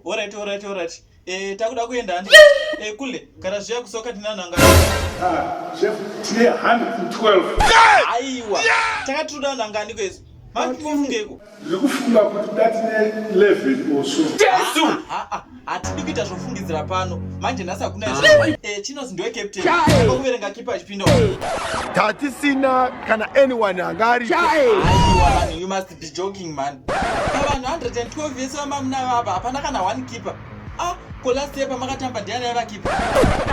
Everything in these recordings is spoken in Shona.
Alright, alright, alright. Eh, takuda kuenda handi. Eh, kule, kana zviya kusoka tinana ngani. Ah, chef, tine 112. Aiwa. Takatuda nangani kwezi. Mati mufungeko. Ndikufunga kuti ndatine 11 or so. Jesu! Ah, ah, ah, Hatidi kuita zvofungidzira pano. Manje nhasi hakuna izvo. Eh, Chinos ndiwe captain. Ko kuverenga kipa achipinda. Tatisina kana anyone anga aripo. Aiwa vanhu, you must be joking man. Pavanhu 112 vese vamamuna vava hapana kana one keeper. Ah, ko last year pamakatamba ndiani aiva keeper?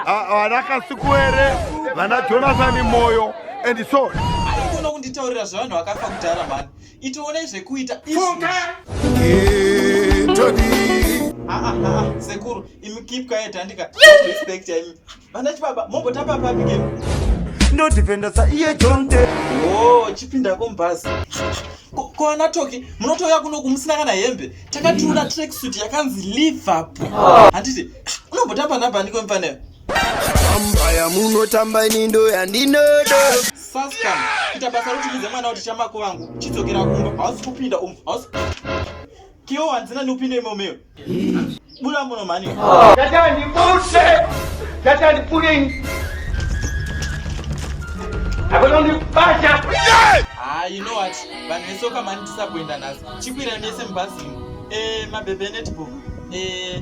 Ah, Vana Kasukuwere, vana Jonathan Moyo and so. Haikona kunditaurira zvevanhu vakafa kudhara mhani. itoonai zvekuita sekuru imi keep quiet handika respect imi vana chibaba mombotamba papi ke ndodhipenda sa iye jonte o oh, chipindako mubhazi ko ana toki munotouya kuno kumusina kana hembe takatiura tracksuit yakanzi liverpool handiti unombotamba nhabhandiko mfaneyo Ambaya munotamba ini ndo yandinodo. Saska, kita basa roti mudze mwana kuti chamako vangu. Chidzokera kumba, hausi kupinda umu. Hausi. Kiyo wanzina ni upinde imo meo. Bula muno mani. Tata ndi pulse. Tata ndi pulling. Abona ndi basha. Ah, you know what? Vanhu vesoka mani tisakuenda nhasi. Chikwira mese mubhazi. Eh, mabebe netball. Eh,